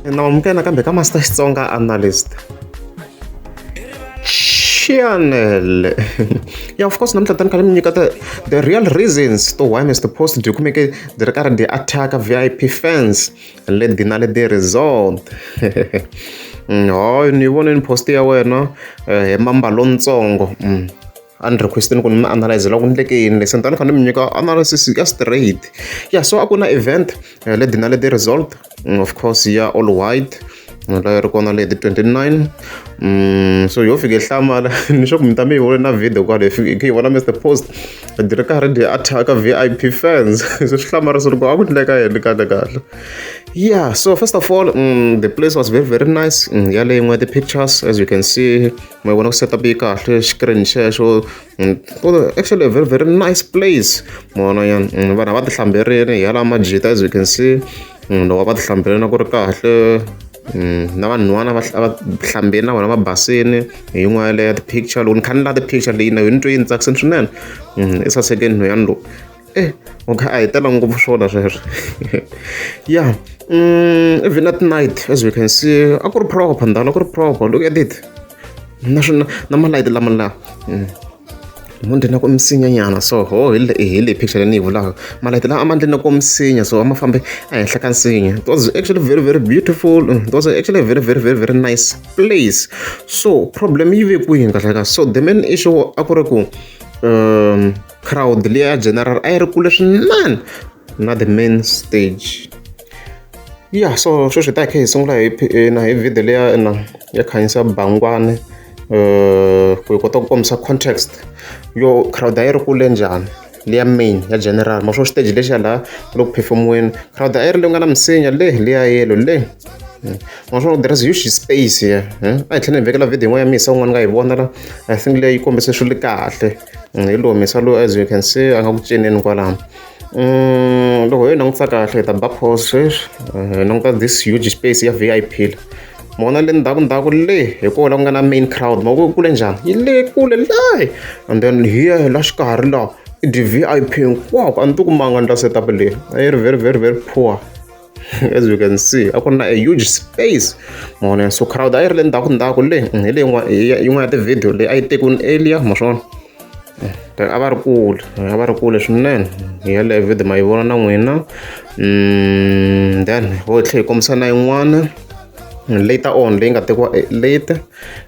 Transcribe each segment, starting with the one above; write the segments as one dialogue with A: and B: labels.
A: na amukela kambe ka master xitsonga analyst chanel yeah of course namuntlha tani khale mi nyika the, the real reasons to why mr post byi kumeke byi ri karhi byi attacka vip fans let the na let the result mm, hoy ni vone ni post ya wena eh, hi mamba lontsongo mm. a ni request-ini ku ni mi analyzela ku ni endleke yini le se ni ta ni kha ni mi nyika analysis ya straight ya so a ku na event eh, le dina le the result mm, of course ya all white la ri kona leti 29 mm, so yo fike hlamala ni swa ku mi ta mi yi vona na video kwale hi yi vona mr post di ri karhi di attack v i p fans so swi hlamala swi ri ku a ku endleka yini kahle kahle yeah so first of all mm, the place was very very nice mm, yale yin'we the pictures as you can see ma vona ku setup yi kahle screen xexo mm, actually very very nice place mona yan mm, vanhu a va tihlamberini hi yala majita as you can see mm, loko a va tihlamberini a ku ri kahle na vanhwana va hlambeni na vona va basini hi yin'wana yaleyo ya ti-picture loko ni kha ni la ti-picture leyi na yona ni twe yi ni tsakisini swinene i sasekeni nhweyani lowu e u kha a hi tela ngopfu swona sweswo ya even at night as we can see a ku ri proper ndhawini a ku ri proper look at it na swona na malayiti lama laha mm. mundi na ku misinyanyana so ho hi le picture leyi ni yi vulaka malayiti lawa a ma ndli na ku misinya so a ma fambe ehenhla ka nsinya it was actually very very beautiful it was actually very very very very nice place so problem yi ve kwihi kahle ka so the main issue a ku ri ku um crowd leyi ya general a yi ri kule swinene na the main stage ya so sweswi hi ta hi kha hi sungula hi eh, na hi video leya na ya khanyisa bangwani um ku hi kota ku kombisa context yo crowd a yi ri kule njhani leya main ya general ma swo stage lexiya laha loko performiweni crowd a yi ri leyi nga na misinya le leya yelo le naswona there is huge space here a hi tlhela hi vekela video yin'wana ya misa un'wana nga yi vona la i think leyi kombise swilo kahle hi lo humesa loyi as you can see a nga ku cineni kwalano um loko hi langutisa kahle hi ta ba pause sweswi hi languta this huge space ya v i p la mona le ndzhaku ndzhaku le hi koho la ku nga na main crowd ma ku kule njhani yi le kule layi and then hiya hi la xikarhi lawa i d-v i p hinkwako a ni ti kumanga ni la setup leyi a yi ri very very very poor as you can see a ku na a huge space mavona so crowd a yi ri le ndzhaku ndzhaku le mm, hi leyi yin'wana ya tivhidiyo leyi a yi tekiwini elia ma swona eh, a va ri kule eh, a va ri kule swinene hi yaleyo vhidiyo ma yi vona na n'wina mm, then ho tlhe hi kombisa na yin'wana later on leyi nga tekiwa eh, late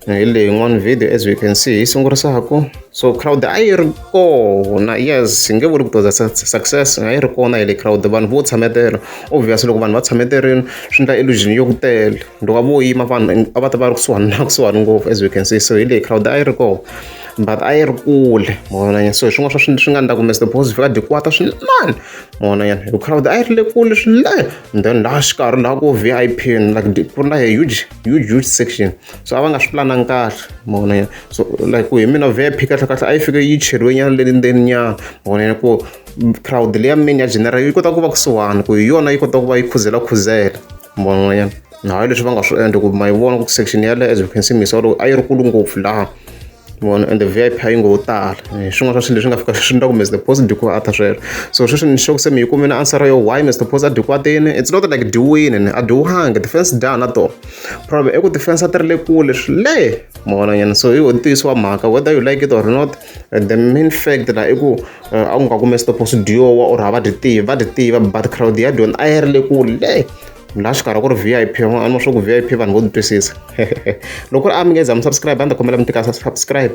A: eh, hi leyi yin'wana video as we can see yi sungurisaku so crowd a yi ri kona yes hi nge vuli ku toza success a yi ri kona hi le crowd vanhu vo tshametela obvious loko vanhu va tshameterini swi endla illusion yo ku tele loko a vo yima vanhu a va ta va ri kusuhani na kusuhani ngopfu as we can see so hi leyi crowd a yi ri kona but a yi ri kule mavonanyana so hi swin'wana swa swi nga ndla ku mr boss fika dikwata swinene mavonanyana hi crowd a yi ri le kule swinene and then laha xikarhi laha ku vip like ku ri na a huge huge huge section so a va nga swi pulanangi kahle mavona ya so like ku hi mina vip kahle kahle a yi fike yi cheriwe nyana le ndzeni nyana mavona ya ku crowd leyi ya mini ya general yi kota ku va kusuhani ku hi yona yi kota ku va yi khuzela khuzela mavona ya hayi leswi va nga swi endla ku ma yi vona ku section yaleyo as you can see misolo a yi ri kulu ngopfu laha vona and the v i p a yi ngo wo tala eh, swin'wana swa swilo leswi nga fika swi ndla ku mr post dikuwa a ta sweswo so sweswi ni xoko se mi yi kume na answer yo why mr post a dikuwa tini it's not like diwini ni a diwuhangi defense da na to problem i ku defense a ti ri le kule swile mavonanyana so i ntiyiso wa mhaka whether you like it or not eh, the main fact la i ku eh, a ku nga ku mr post diowa or hava dyi tivi va dyi tiva but crowd ya dyona a yi ri le kule laha swi karhi ku ri vip a ni swa ku vip vanhu vo ni twisisa loko ri a mi nge za mi subscribe a ni ta kombela mi tika subscribe